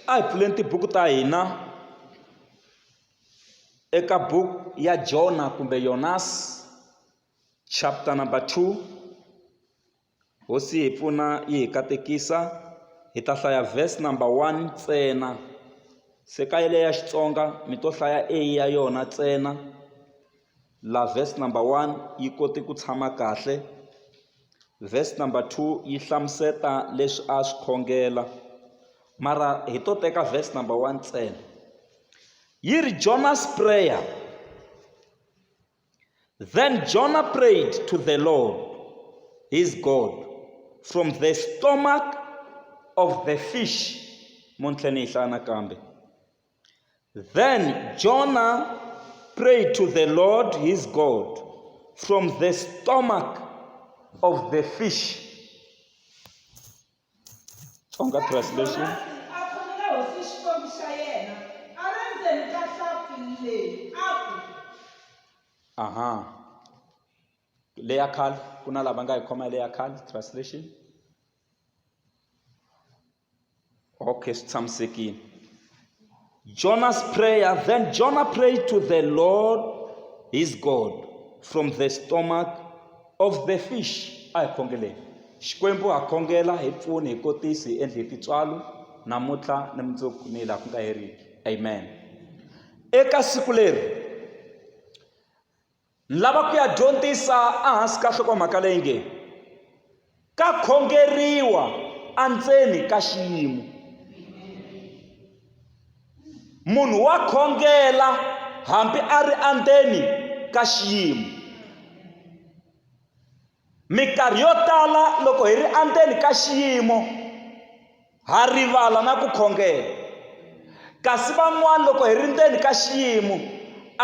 A hi pfuleni tibuku ta hina eka buku ya Jona kumbe Yonas chapter number 2 hosi hi pfuna yi hi katekisa hi ta hlaya verse number 1 ntsena se ka yeleyo ya Xitsonga mi to hlaya a ya yona ntsena Laha verse number one yi kote ku tshama kahle verse number two yi hlamuseta leswi a swi khongela mara hi to teka verse number one ntsena yi ri jonas prayer then jonah prayed to the lord his god from the stomach of the fish muntlhe ni yi hlaya nakambe Then Jonah prayed to the Lord his God from the stomach of the fish. Tonga translation. Aha. Leya khal kuna lava nga hi khoma leya khal translation. Okay, sitshamisekile. Jonah's prayer, then Jonah prayed to the Lord his God from the stomach of the fish. A hi khongeleni. Xikwembu ha khongela hi pfuni hi kotisi hi endle titswalo namuntlha ni mundzuku ni laha ku nga heriki. Amen. Eka siku leri Ni lava ku ya dyondzisa ehansi ka nhlokomhaka leyi nge ka khongeriwa endzeni ka xiyimo munhu wa khongela hambi a ri endzeni ka xiyimo Mikarhi yo tala loko hi ri endzeni ka xiyimo ha rivala na ku khongela. Kasi van'wana loko hi ri ndzeni ka xiyimo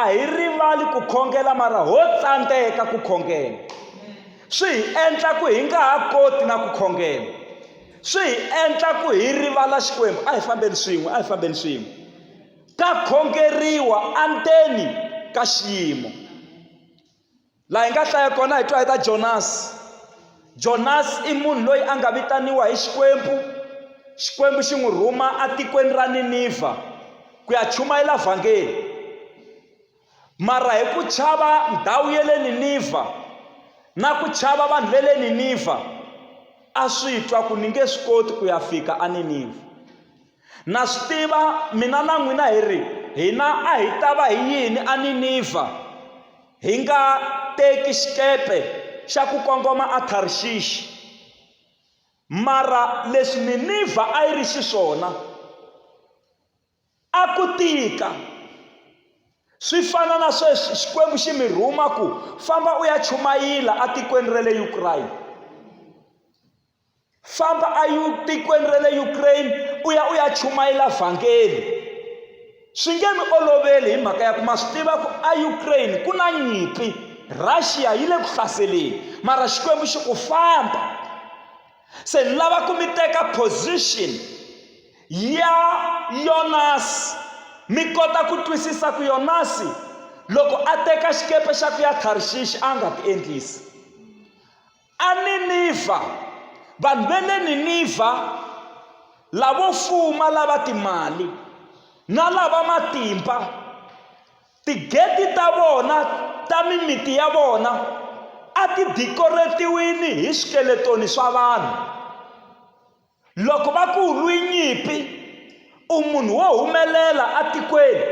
a hi rivali ku khongela mara ho tsandzeka ku khongela. Swi hi endla ku hi nga ha koti na ku khongela. Swi hi endla ku hi rivala Xikwembu, a hi fambeni swin'we, a hi fambeni swin'we. Ka khongeriwa endzeni ka xiyimo. laha hi nga hlaya kona hi twa hi ta jonasi jonasi i munhu loyi a nga vitaniwa hi xikwembu xikwembu xi n'wi rhuma etikweni ra ninivha ku ya chumayela vhangeli mara hi ku chava ndhawu ya le ninivha na ku chava vanhu va le ninivha a swi twa ku ni nge swi koti ku ya fika eninivha na swi tiva mina na n'wina hi ri hina a hi ta va hi yini aninivha hi nga teki xikepe xa ku kongoma atharixixi mara leswi ninivha a yi ri xiswona a ku tika swi fana na sweswi xikwembu xi mi rhuma ku famba u ya chumayila etikweni ra le ukrayina famba etikweni ra le ukraine u ya u ya chumayela vhangeli swi nge mi oloveli hi mhaka ya ku ma swi tiva ku eukraine ku na nyimpi russia yi le ku hlaseleni mara xikwembu xi ku famba se ni lava ku mi teka position ya yonasi mi kota ku twisisa ku yonasi loko a teka xikepe xa ku ya tharishishi a nga ti endlisi ANinivha, Vanhu va le Ninivha lavo fuma lava timali na lava matimba, tigeti ta vona ta mimiti ya vona a ti dikoretiwini hi swikeletoni swa vanhu. loko va ku lwi nyimpi u munhu wo humelela atikweni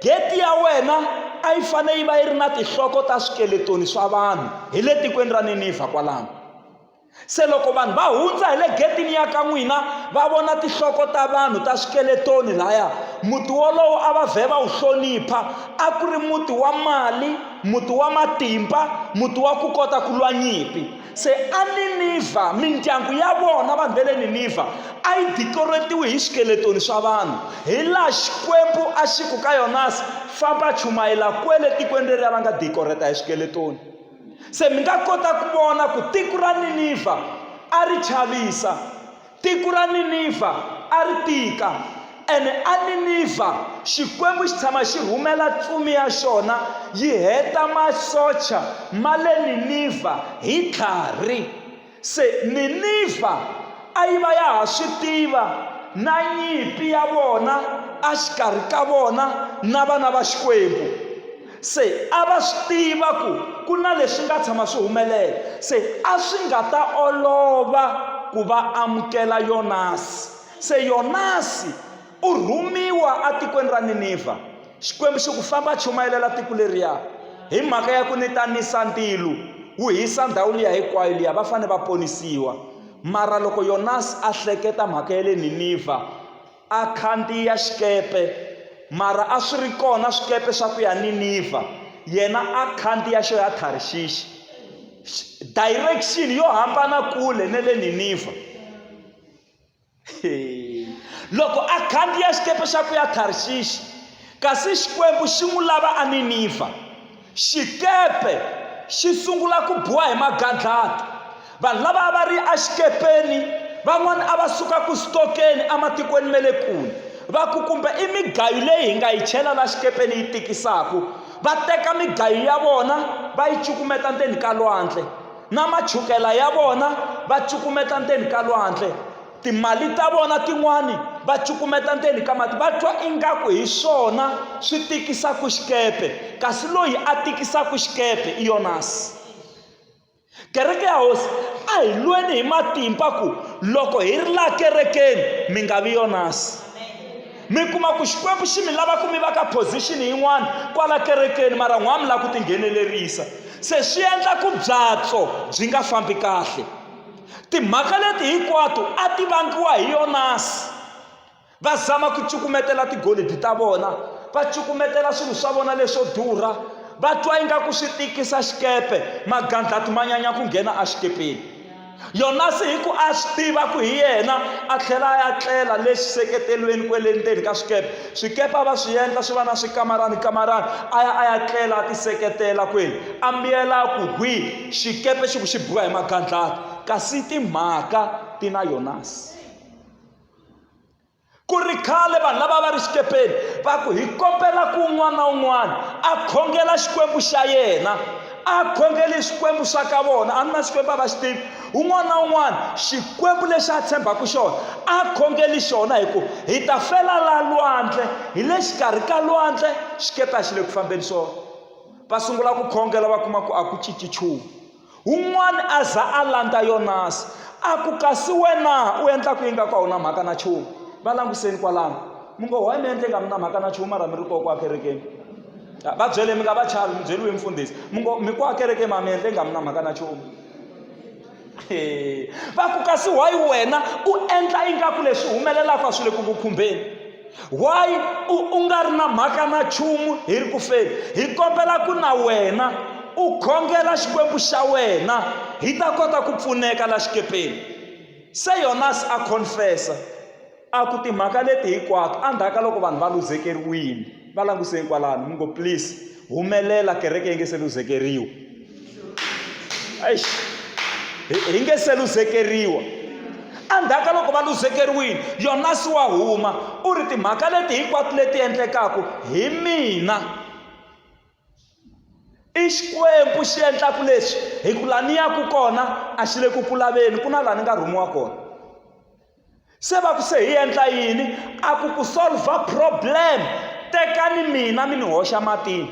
geti ya wena a yi fanele yi va yi ri na tinhloko ta swikeletoni swa vanhu hi le tikweni ra ninivha kwalano se loko vanhu va hundza hi le getini ya ka n'wina va vona tinhloko ta vanhu ta swikeletoni laya muti wolowo a va vhe va wu hlonipha a ku ri muti wa mali muti wa matimba muti wa ku kota ku lwa nyimpi se aninivha mindyangu ya vona vanhu va le ninivha a yi dikoretiwi hi swikeletoni swa vanhu hi laha xikwembu a xi ku ka yonasi famba chumayela kwele tikweni leri a va nga dikoreta hi swikeletoni se mi nga kota ku vona ku tiko ra ninivha a ri chavisa Tiko ra Ninivha a ri tika, ene aNinivha Xikwembu xi tshama xi rhumela tsumi ya xona yi heta masocha ma le Ninivha hi tlhari. Se Ninivha a yi va ya ha swi tiva na nyimpi ya vona a xikarhi ka vona na vana va Xikwembu. Se a va swi tiva ku ku na leswi nga tshama swi humelela, se a swi nga ta olova ku va amukela Yonasi. Se Yonasi u rhumiwa atikweni ra Ninivha, Xikwembu xi ku, Famba chumayelela tiko leriya, hi mhaka ya ku ni ta nisa ndilo wu hisa ndhawu liya hinkwayo liya, va fane va ponisiwa. Mara loko Yonasi a hleketa mhaka ya le Ninivha, a khandziya xikepe, mara a swi ri kona swikepe swa ku ya Ninivha, yena a khandziya xo ya Tharshishi. Direction yo hambana kule ne le Ninivha. Loko a khandziya xikepe xa ku ya Tharshishi, kasi Xikwembu xi n'wi lava a Ninivha. Xikepe xi sungula ku biwa hi magandlati. Vanhu lava a va ri exikepeni van'wana a va suka ku sitokeni ematikweni ma le kule va ku kumbe i migayo leyi hi nga yi chela la xikepeni yi tikisaka va teka migayo ya vona va yi cukumeta ndzeni ka lwandle na machukela ya vona va cukumeta ndzeni ka lwandle timali ta vona tin'wani va cukumeta ndzeni ka mati va twa ingaku hi swona swi tikisaka xikepe kasi loyi a tikisaka xikepe i yonasi kereke ya hosi a hi lweni hi matimba ku loko hi ri laha kerekeni mi nga vi yonasi mi kuma ku xikwembu xi mi lava ku mi va ka position yin'wana kwala kerekeni mara n'wana mi lava ku tinghenelerisa se swi endla ku byatso byi nga fambi kahle Timhaka leti hinkwato a ti vangiwa hi Yonasi. Va zama ku cukumetela tigolidi ta vona, va cukumetela swilo swa vona leswo durha, va twa ingaku swi tikisa xikepe, magandlati ma nyanya ku nghena exikepeni. Yonasi hi ku a swi tiva ku hi yena a tlhela a ya tlela le xiseketelweni kwele ndzeni ka swikepe swikepe a va swi endla swi va na swikamarani kamarani a ya a ya tlela a tiseketela kwele a mbiyela ku hwi xikepe xi ku xi biwa hi magandlati kasi timhaka ti na yonasi ku ri khale vanhu lava va ri xikepeni va ku hi kombela ku un'wana na un'wana a khongela xikwembu xa yena a khongeli xikwembu xa ka vona a ni na xikwembu a va xi tivi un'wana na un'wana xikwembu lexi a tshembaka xona a khongeli xona hi ku hi ta fela la lwandle hi le xikarhi ka lwandle xikepe a xi le ku fambeni swona va sungula ku khongela va kuma ku a ku cinci nchumu un'wana a za a landza yonasi a ku kasi wena u endla ku ingaku a wu na mhaka na nchumu va langutiseni kwalano mi ngo why mi endle nga mi na mhaka na nchumu mara mi ri koho kwa kerekeni va byele mi nga va chavi mi byeriwe mfundhisi mi ngo mi kwa kerekeni ma mi endle nga mi na mhaka na nchumu va ku kasi why wena u endla ingaku leswi humelelaka swi le ku ku khumbeni why u u nga ri na mhaka na nchumu hi ri ku feni hi kombela ku na wena u khongela xikwembu xa wena hi ta kota ku pfuneka la xikepeni se yonas a confessa a ku timhaka leti hinkwato endzhaku ka loko vanhu va luzekeriwile va languseni kwalano mi ngo please humelela kereke yi nge se luzekeriwa hi nge se luzekeriwa endzhaku ka loko va luzekeriwile yonasi wa huma u ri timhaka leti hinkwato leti endlekaka hi mina i xikwembu xi endlaka leswi hi ku laha ni yaka kona a xi le ku ku laveni ku na laha ni nga rhumiwa kona se va ku se hi endla yini a ku ku solva problem tekani mina mi ni hoxa matini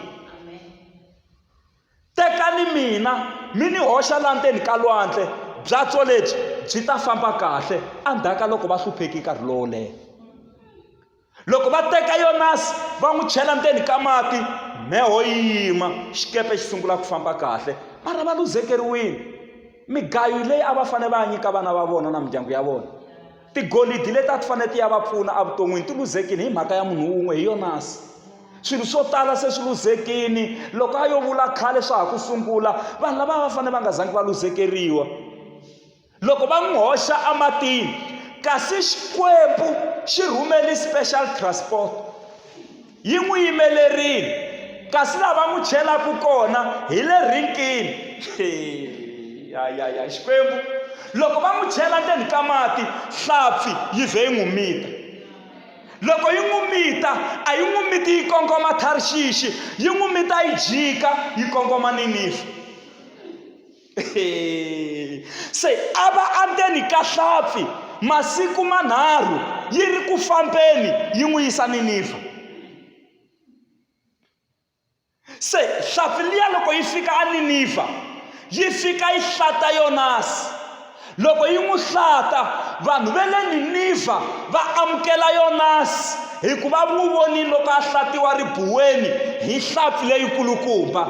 tekani mina mi ni hoxa la ndzeni ka lwandle byatso lebyi byi ta famba kahle endzhaku ka loko va hlupheki nkarhi lowo leha loko va teka yonasi va n'wi chela ndzeni ka mati mheho yi yima xikepe xi sungula ku famba kahle mara va luzekeriwile migayo leyi a va fanele va ya nyika vana va vona na mindyangu ya vona tigolidi leti a ti fanele ti ya va pfuna evuton'wini ti luzekile hi mhaka ya munhu wun'we hi yonasi swilo swo tala se swi luzekini loko a yo vula khale swa ha ku sungula vanhu lava va fanele va nga zangi va luzekeriwa loko va n'wi hoxa ematini kasi xikwembu xi rhumeli special transport yi n'wi yimelerile kasi laha va n'wi chelaka kona hi le rinkini ya ya ya xikwembu loko va n'wi chela ndzeni ka mati hlampfi yi vhe yi n'wi mita loko yi n'wi mita a yi n'wi miti yi kongoma tharixixi yi n'wi mita yi jika yi kongoma ninifa se a va andzeni ka hlampfi masiku manharhu yi ri ku fambeni yi n'wi yisa niniva se hlampfi liya loko yi fika aniniva yi fika yi hlata yonasi loko yi n'wi hlata vanhu ve le niniva va amukela yonasi hikuva n'wi vonile loko a hlatiwa ribuweni hi hlampfi leyikulukumba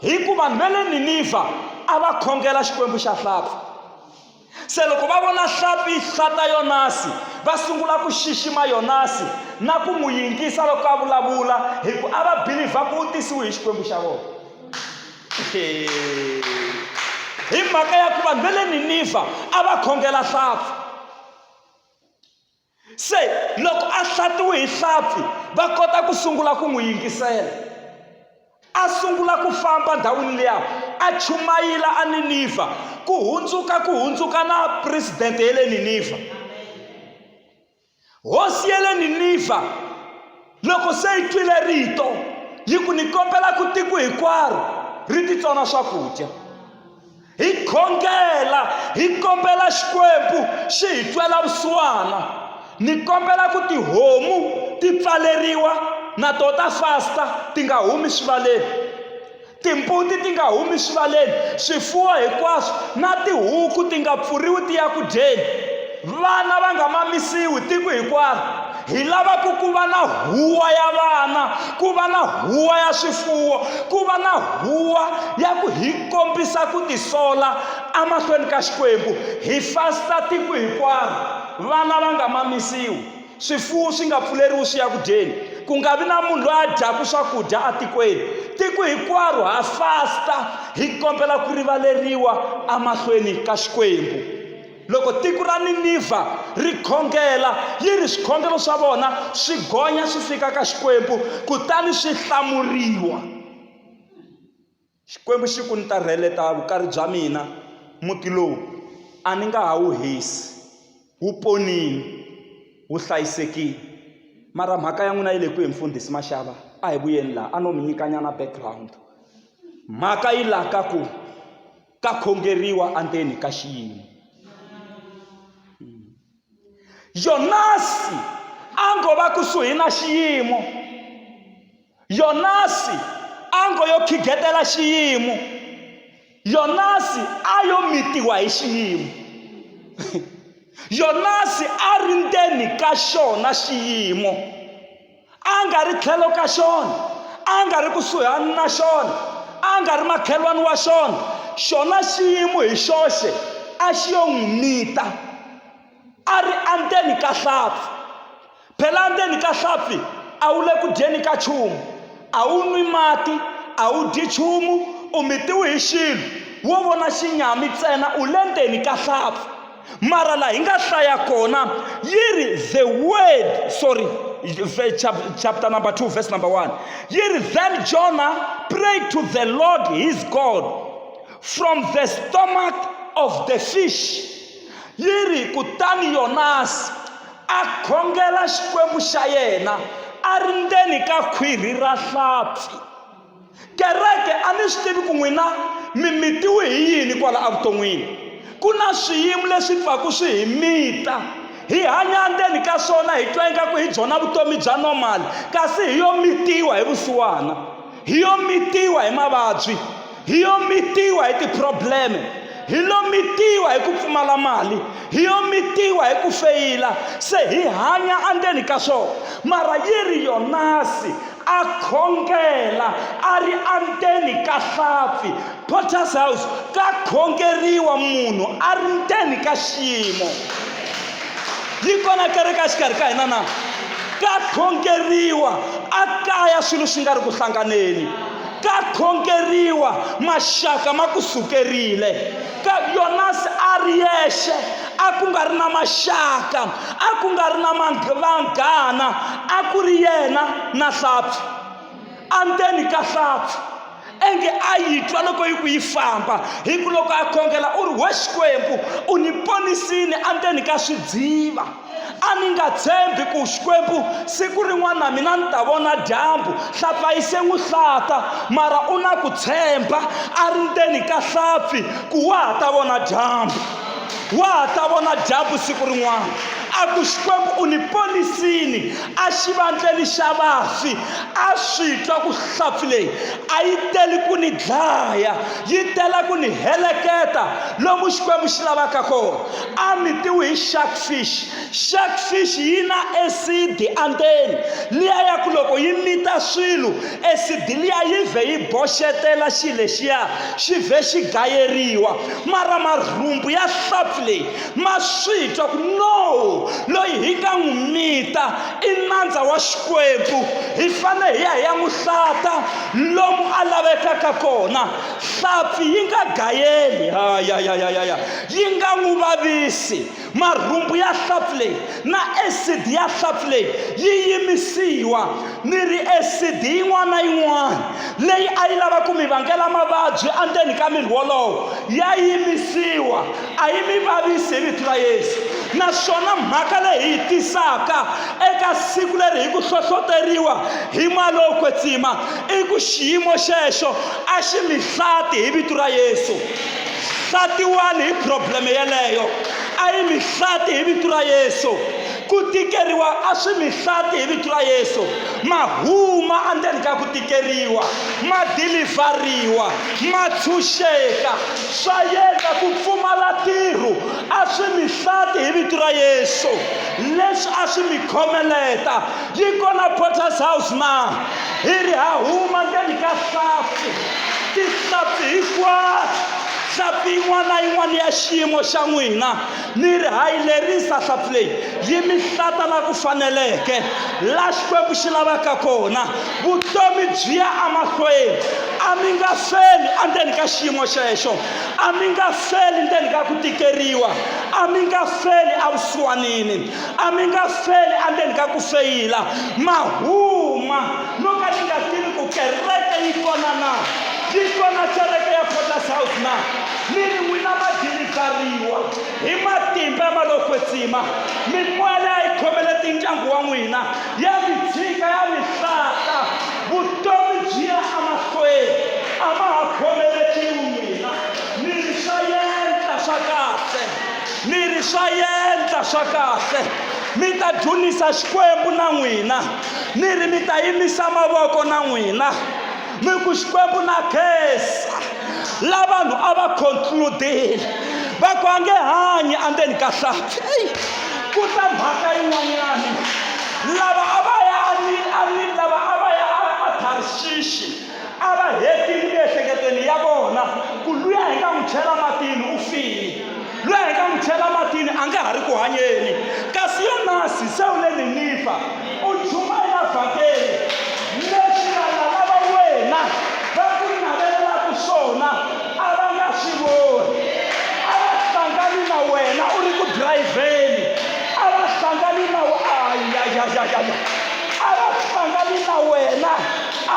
Hikuva vanhu va le Ninivha a va khongela xikwembu xa hlampfi. Se loko va vona hlampfi yi hlata Yonasi, va sungula ku xixima Yonasi na ku n'wi yingisa loko a vulavula hi ku a va bilivha ku u tisiwe hi xikwembu xa vona. Hi mhaka ya ku vanhu va le Ninivha a va khongela hlampfi. se loko a hlatiwe hi hlampfi va kota ku sungula ku n'wi yingisela a sungula ku famba ndhawini liya a chumayila a ninivha ku hundzuka ku hundzuka na presidente ya le ninivha hosi ya le ninivha loko se yi twile rito yi ku ni kombela ku tiko hinkwaro ri titsona swakudya hi khongela hi kombela xikwembu xi hi twela vusiwana ni kombela ku tihomu ti pfaleriwa na to ta fasta ti nga humi swivaleni timbuti ti nga humi swivaleni swifuwo hinkwaswo na tihuku ti nga pfuriwi ti ya ku dyeni vana va nga mamisiwi tiko hinkwaro hi lava ku ku va na huwa ya vana ku va na huwa ya swifuwo ku va na huwa ya ku hi kombisa ku tisola emahlweni ka xikwembu hi fasta tiko hinkwaro vana va nga mamisiwi swifuwo swi nga pfuleriwi swi ya ku dyeni ku nga vi na munhu loyi a dyaku swakudya etikweni tiko hinkwaro ha fasta hi kombela ku rivaleriwa emahlweni ka xikwembu loko tiko ra ninivha ri khongela yi ri swikhongelo swa vona swi gonya swi fika ka xikwembu kutani swi hlamuriwa Xikwembu xi ku, Ni ta rheleta vukari bya mina, muti lowu a ni nga ha wu hisi. Wu ponile, wu hlayisekile. Mara mhaka ya n'wina yi le kwihi mfundhisi Mashava? A hi vuyeni laha, a no mi nyikanyana background. Mhaka yi laha ka ku ka khongeriwa endzeni ka xiyimo. yonasi a ngo va kusuhi na xiyimo yonasi a ngo yo khigetela xiyimo yonasi a yo mitiwa hi xiyimo yonasi a ri ndzeni ka xona xiyimo a nga ri tlhelo ka xona a nga ri kusuhani na xona a nga ri makhelwani wa xona xona xiyimo hi xoxe a xi yo n'wi mita a ri andzeni ka hlampfi phela andzeni ka hlampfi a wu le ku dyeni ka chumu a wu nwi mati a wu dyi chumu u mitiwe hi xilo wo vona xinyami ntsena u le ndzeni ka hlampfi mara laha hi nga hlaya kona yi ri the word sorry chapter number 2 verse number 1 yi ri then jonah prayed to the lord his god from the stomach of the fish yi ri kutani yonasi a khongela xikwembu xa yena a ri ndzeni ka khwirhi ra hlampfi Kereke a ni swi tivi ku n'wina mi mitiwe hi yini kwala evuton'wini. Ku na swiyimo leswi pfaku swi hi mita hi hanya ndzeni ka swona hi twa ingaku hi byona vutomi bya normal kasi hi yo mitiwa hi vusiwana hi yo mitiwa hi mavabyi hi yo mitiwa hi ti-probleme hi lo mitiwa hi ku pfumala mali hi yo mitiwa hi ku feyila se hi hanya endzeni ka swona mara yi ri yonasi a khongela a ri endzeni ka hlampfi potter's house ka khongeriwa munhu a ri ndzeni ka xiyimo yi kona kereke exikarhi ka hina na ka khongeriwa a kaya swilo swi nga ri ku hlanganeni ka khongeriwa maxaka ma ku sukerile Yonasi a ri yexe a ku nga ri na maxaka a ku nga ri na vanghana a ku ri yena na hlampfi andzeni ka hlampfi enge a yi twa loko yi ku yi famba hi ku loko a khongela u ri we xikwembu u ni ponisini andzeni ka swidziva A ni nga tshembi ku Xikwembu siku rin'wana na mina ni ta vona dyambu. Hlapfa yi se n'wi hlata, mara u na ku tshemba a ri ndzeni ka hlapfi ku wa ha ta vona dyambu. Wa ha ta vona dyambu siku rin'wana. A ku Xikwembu u ni ponisini exivandleni xa vafi. A swi twa ku hlapfi leyi a yi teli ku ni dlaya, yi tela ku ni heleketa lomu Xikwembu xi lavaka kona. a mitiwi hi shark fish shark fish yi na acid andzeni liya ya ku loko yi mita swilo acid liya yi vhe yi boxetela xi lexiya xi vhe xi gayeriwa mara marhumbu ya hlampfi leyi ma swi twa ku no loyi hi nga n'wi mita i nandza wa xikwembu hi fanele hi ya hi ya n'wi hlata lomu a lavekaka kona hlampfi yi nga gayeli ha ya ya ya ya ya yi nga n'wi vavisi. Marhumbu ya hlampfi leyi na esidi ya hlampfi leyi yi yimisiwa. Ni ri esidi yin'wana na yin'wana leyi a yi lava ku mi vangela mavabyi endzeni ka miri wolowo ya yimisiwa, a yi mi vavisi hi vito ra Yesu. Naswona mhaka leyi hi yi tisaka eka siku leri hi ku hlohloteriwa hi moya lowo kwetsima i ku xiyimo xexo a xi mi hlati hi vito ra Yesu. hlatiwani hi probleme yeleyo a yi mi hlati hi vito ra yesu ku tikeriwa a swi mi hlati hi vito ra yesu ma huma endzeni ka ku tikeriwa ma dilivhariwa ma tshunxeka swa yendla ku pfumala ntirho a swi mi hlati hi vito ra yesu leswi a swi mi khomeleta Dikon na Potter's House ma hi ri ha huma ndzeni ka hlampfi, tihlampfi hinkwato, hlampfi yin'wana na yin'wana ya xiyimo xa n'wina, mi ri ha yi lerisa hlampfi leyi yi mi hlata la ku faneleke, la Xikwembu xi lavaka kona. Vutomi byi ya emahlweni, a mi nga feli endzeni ka xiyimo xexo, a mi nga feli ndzeni ka ku tikeriwa, a mi nga feli evusiwanini. a mi nga feli endzeni ka ku feyila ma huma no ka ni nga tivi ku kereke yi kona na yi kona kereke ya potas house na mi ri n'wina ma dilivhariwa hi matimba ya malokwetsima mimoya leyi a yi khomele tindyangu wa n'wina ya mi tshika ya mi hlata vutomi byi ya emahlweni a ma ha khomeletiwi n'wina mi ri swa yendla swa kahle Mi ri swa yendla swa kahle, mi ta dzunisa Xikwembu na n'wina, mi ri mi ta yimisa mavoko na n'wina, mi ku Xikwembu na khensa. La vanhu a va concludile va ku a nge hanyi andzeni ka hlathi. Eyi, ku ta mhaka yin'wanyani lava a va ya a ni a ni lava a va ya a Tharshishi a va hetile miehleketweni ya vona ku luya hi nga n'wi chela matini u file luya hi nga n'wi chela matini a nga ha ri ku hanyeni kasi yonasi se u le ninifa u chuma emavhakeni leswi vanhu lava wena va ku navelelaka swona a va nga swi voni a va hlangani na wena u ri ku dirayivheni a va hlangani na ayayayaya a va hlangani na wena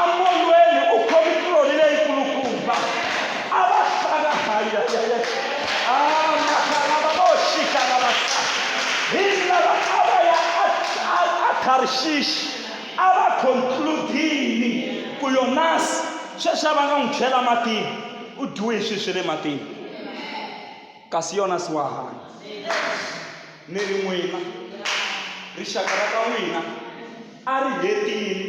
amolweni u khomi tironi leyikulukumba a va hlanga hayayaya amakalavaoxikalavasaa hi lava a va ya atharishishi a va konkludini ku yonasi sweswi a va nga n'wi chela matini u dyiwe hi sweswi le matini kasi yona si wa hanya ni ri n'wina rixaka ra ka n'wina a ri hetile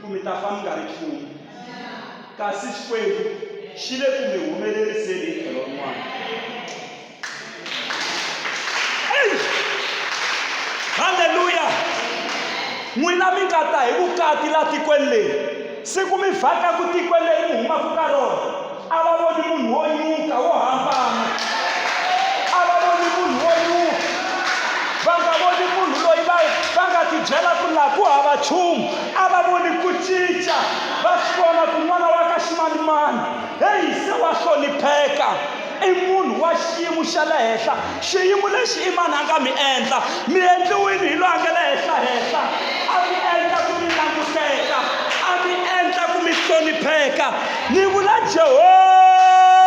ku mi ta fa mi nga ri nchumu kasi xikwembu xi le ku mi humeleriseni hi tlhelo rin'wana halleluya n'wina mi nga ta hi vukati laha tikweni leri Siku mi vhaka ku tikweni leri mi humaka ka rona, a va voni munhu wo nyuka wo hambana, a va voni munhu wo nyuka, va nga voni munhu loyi va va nga tibyela ku laha ku hava nchumu, a va voni ku cinca, va swi vona ku n'wana wa ka ximanimani heyi se wa hlonipheka. i munhu wa xiyimo xa le henhla xiyimo lexi i mani a nga mi endla mi endliwini hi loyi a nga le henhla henhla a mi endla ku mi languteka a mi endla ku mi hlonipheka ni vula jehovha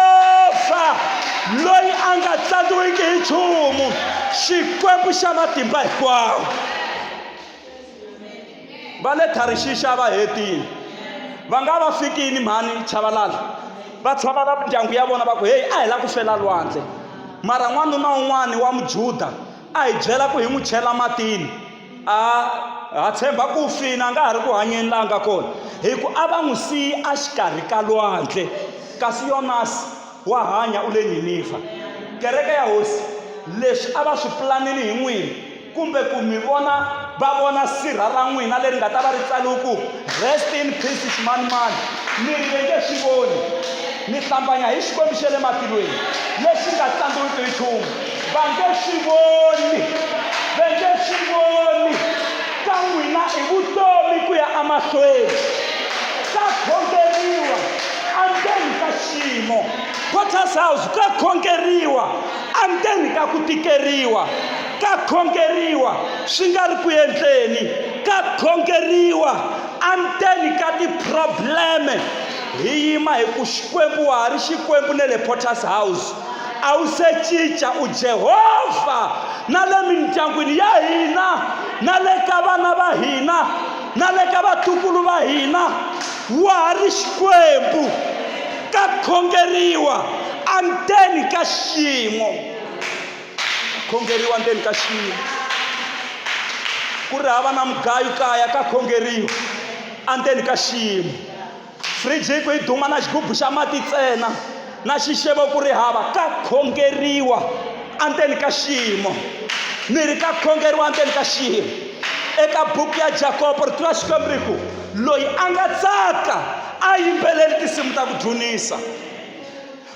loyi a nga tlandiwiki hi nchumu xikwembu xa matimba hinkwawo va le tharishixa va hetini va nga va fikini mhani chavalala va tshamala mindyangu ya vona va ku heyi a hi la ku fela lwandle mara n'wanuna un'wani wa mujuda a hi byela ku hi n'wi chela matini a ha tshemba ku fina a nga ha ri ku hanyeni laha nga kona hi ku a va n'wi siyi a xikarhi ka lwandle kasi yonasi wa hanya u le Ninivha. Kereke ya Hosi, leswi a va swi pulanile hi n'wina, kumbe ku mi vona va vona sirha ra n'wina leri nga ta va ri tsaliwe ku rest in peace ximanimani mi ri ve nge swi voni mi hlambanya hi xikwembu xa le matilweni lexi nga tsandziwiki hi nchumu va nge swi voni va nge swi voni ka n'wina i vutomi ku ya emahlweni ka khongeriwa endzeni ka xiyimo potter's house ka khongeriwa andzeni ka ku tikeriwa ka khongeriwa swi nga ri ku endleni ka khongeriwa andzeni ka tiprobleme hi yima hi ku xikwembu wa ha ri xikwembu ne le potter's house a wu se cinca u jehovha na le mindyangwini ya hina na le ka vana va hina na le ka vatukulu va hina Wa ha ri Xikwembu, ka khongeriwa andzeni ka xiyimo. Ka khongeriwa andzeni ka xiyimo. Ku ri hava na mugayu kaya, ka khongeriwa andzeni ka xiyimo. Fridge yi ku yi duma na xigubu xa mati ntsena. na xixevo ku ri hava ka khongeriwa endzeni ka xiyimo ni ri ka khongeriwa endzeni ka xiyimo eka buku ya jakobo ri tiva xikwembu ri ku loyi a nga tsaka a yimbeleli tinsimu ta ku dzunisa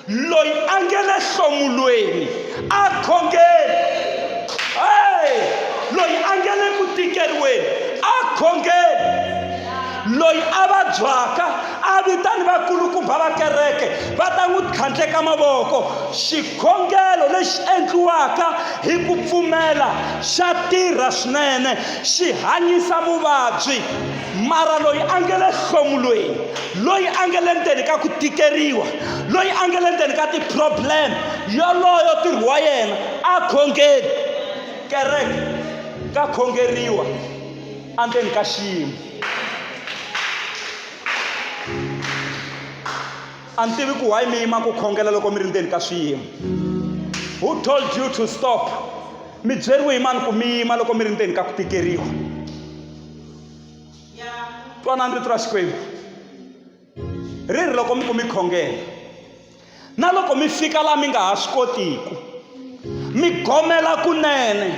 loyi a nge le hlomulweni a khongeli hey! loyi a nge le ku tikeriweni a khongeli loyi a vabyaka a vitani vakulukumba va kereke va ta n'wi tlhandleka mavoko xikhongelo lexi endliwaka hi ku pfumela xa tirha swinene xi hanyisa muvabyi mara loyi a nge le hlomulweni loyi a nge le ndzeni ka ku tikeriwa loyi a nge le ndzeni ka ti-problem yoloyo tirhi wa yena a khongeli kereke ka khongeriwa endzeni ka xiyimo a ni tivi ku why mi yima ku khongela loko mi ri ndzeni ka swiyimo who told you to stop mi byeriwe hi mani ku mi yima loko mi ri ndzeni ka ku tikeriwa twanani rito ra xikwembu ri ri loko mi ku mi khongela na loko mi fika laha mi nga ha swi kotiku mi gomela kunene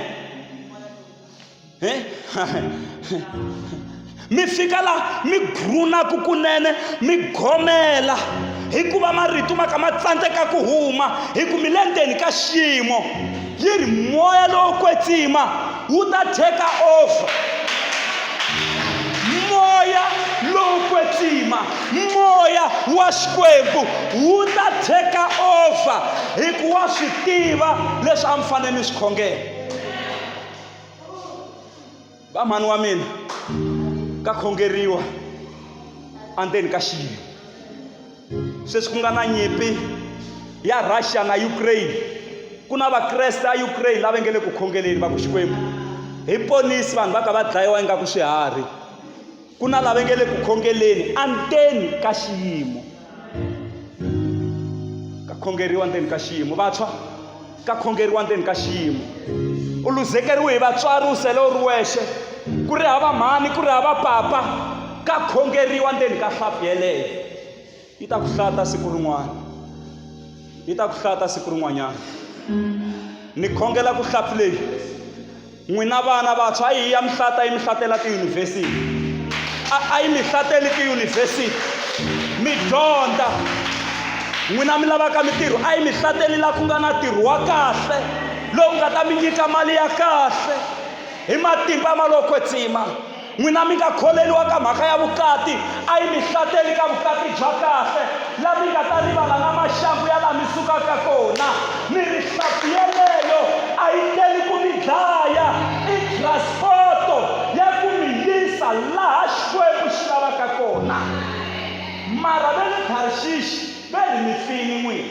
mi fika laha mi grunaku kunene mi gomela hikuva marito ma ka ma tsandzeka ku huma hi ku mi le ndzeni ka xiyimo yi ri moya lowo kwetsima wu ta take over moya lowo kwetsima moya wa xikwembu wu ta take over hikuva swi tiva leswi a mi fanele mi swi khongela va mhani wa mina ka khongeriwa andzeni ka xiyimo sweswi ku nga na nyimpi ya russia na ukraine ku na vakreste a ukraine lava nge le ku khongeleni va ku xikwembu hi ponisi vanhu va ka va dlayiwa ingaku swiharhi ku na lava nge le ku khongeleni anteni ka xiyimo ka khongeriwa ndzeni ka xiyimo vantshwa ka khongeriwa ndzeni ka xiyimo u luzekeriwe hi vatswari u sele u ri wexe ku ri hava mhani ku ri hava papa ka khongeriwa ndzeni ka hlapi yeleyo yi ta ku hlata siku rin'wana yi ta ku hlata siku rin'wanyana ni khongela ku hlapi leyi n'wina vana vantshwa a yi ya mihlata yi mihlatela tiyunivhesiti a yi mihlateli tiyunivhesiti mi dyondza n'wina mi lavaka mitirho a yi mihlateli laha ku nga na ntirho wa kahle lowu nga ta mi nyika mali ya kahle hi matimba ma lo kwetsima n'wina mi nga kholeriwa ka mhaka ya vukati a yi mi hlateli ka vukati bya kahle la mi nga ta rivala na maxangu ya la mi sukaka kona mi ri hlampfu yeleyo a yi teli ku mi dlaya i transporto ya ku mi yisa laha xikwembu xi lavaka kona mara ve le tharixixi ve ri mi pfini n'wina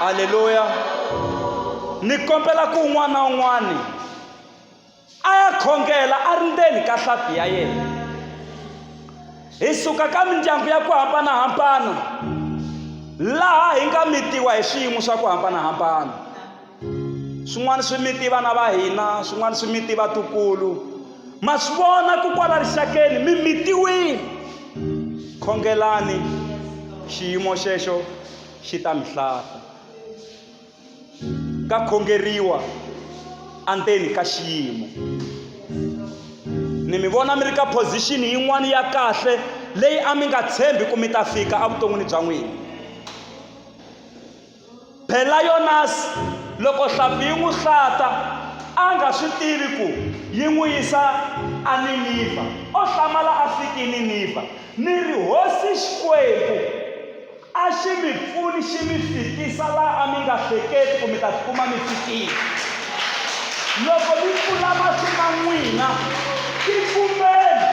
halleluya ni kombela ku un'wana na un'wana a ya khongela a ri ndzeni ka hlampfi ya yena hi suka ka mindyangu ya ku hambanahambana laha hi nga mitiwa hi swiyimo swa ku hambanahambana swin'wana swi miti vana va hina swin'wana swi miti vatukulu ma swi vona ku kwala rixakeni mi mitiwile khongelani xiyimo xexo xi ta mi hlata ka khongeriwa andzeni ka xiyimo ni mi vona mi ri ka position yin'wana ya kahle leyi a mi nga tshembi ku mi ta fika evuton'wini bya n'wina Pelionasi, loko hlampfi yi n'wi hlata, a nga swi tivi ku yi n'wi yisa eNiniva, o hlamala a fike eNiniva. Ni ri, Hosi Xikwembu a xi mi pfuni xi mi fikisa laha a mi nga hleketi ku mi ta tikuma mi fikile. Loko mi pfula mahlo ma n'wina, tikumeni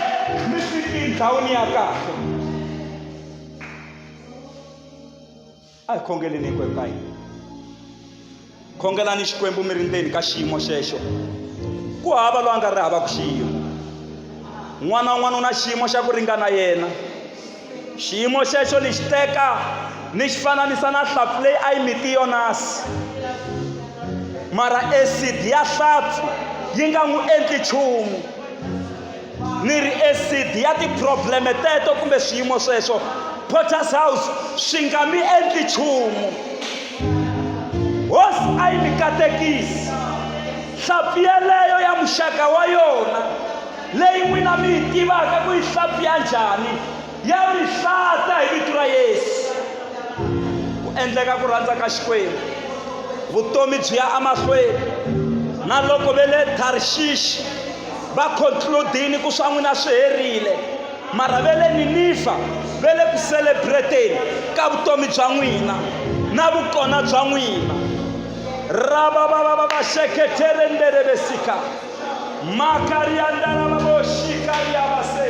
mi fike endhawini ya kahle. a hi khongeleni hinkwenu ka hina khongelani xikwembu mi ri ndzeni ka xiyimo xexo ku hava loyi a nga ri hava ku xiyimo n'wana un'wana u na xiyimo xa ku ringana yena xiyimo xexo ni xi teka ni xi fananisa na hlampfu leyi a yi miti yonasi mara acid ya hlampfu yi nga n'wi endli nchumu ni ri esidi ya tiprobleme teto kumbe swiyimo sweswo potters house swi nga mi endli nchumu hosi a yi mi katekisi hlampfi yeleyo ya muxaka wa yona leyi n'wina mi yi tivaka ku yi hlampfi ya njhani ya mi hlata hi vito ra yesu ku endleka ku rhandza ka xikwembu vutomi byi ya emahlweni na loko ve le tharishishi va concludini ku swa n'wina swi herile mara ve le ninifa ve le ku celebreteni ka vutomi bya n'wina na vukona bya n'wina rababababasheketerenderebesika makariandarababoshikariyabase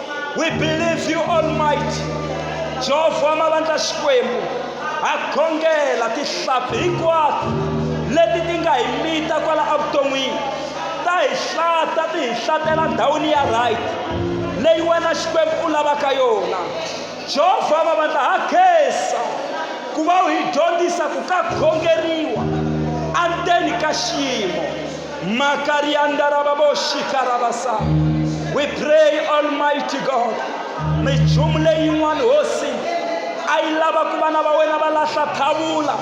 we believe you almighty jehovha wa mavandla xikwembu ha khongela tihlampfi hinkwato leti ti nga hi mita kwala evuton'wini ta hi hlata ti hi hlatela ndhawini ya right leyi wena xikwembu u lavaka yona jehovha wa mavandla ha khensa ku va u hi dyondzisa ku ka khongeriwa endzeni ka xiyimo makariandarababoshikarabasaa we pray almighty god minchumu leyin'wana hosi a yi lava ku vana va wena va lahla thavula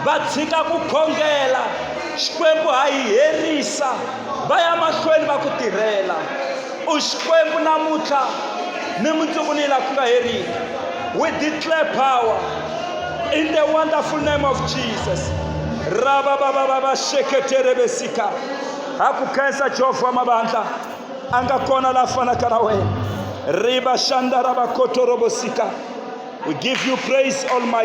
va tshika ku khongela xikwembu ha yi herisa va ya mahlweni va ku tirhela u xikwembu namuntlha ni mundzuku ni la ku nga heriki we declare power in the wonderful name of jesus rava vava vava xeketere vesika ha ku khensa jehovha wa mavandla a nga kona la fanaka na wena riva xanda ra vakotoro vosika we give you praise almighty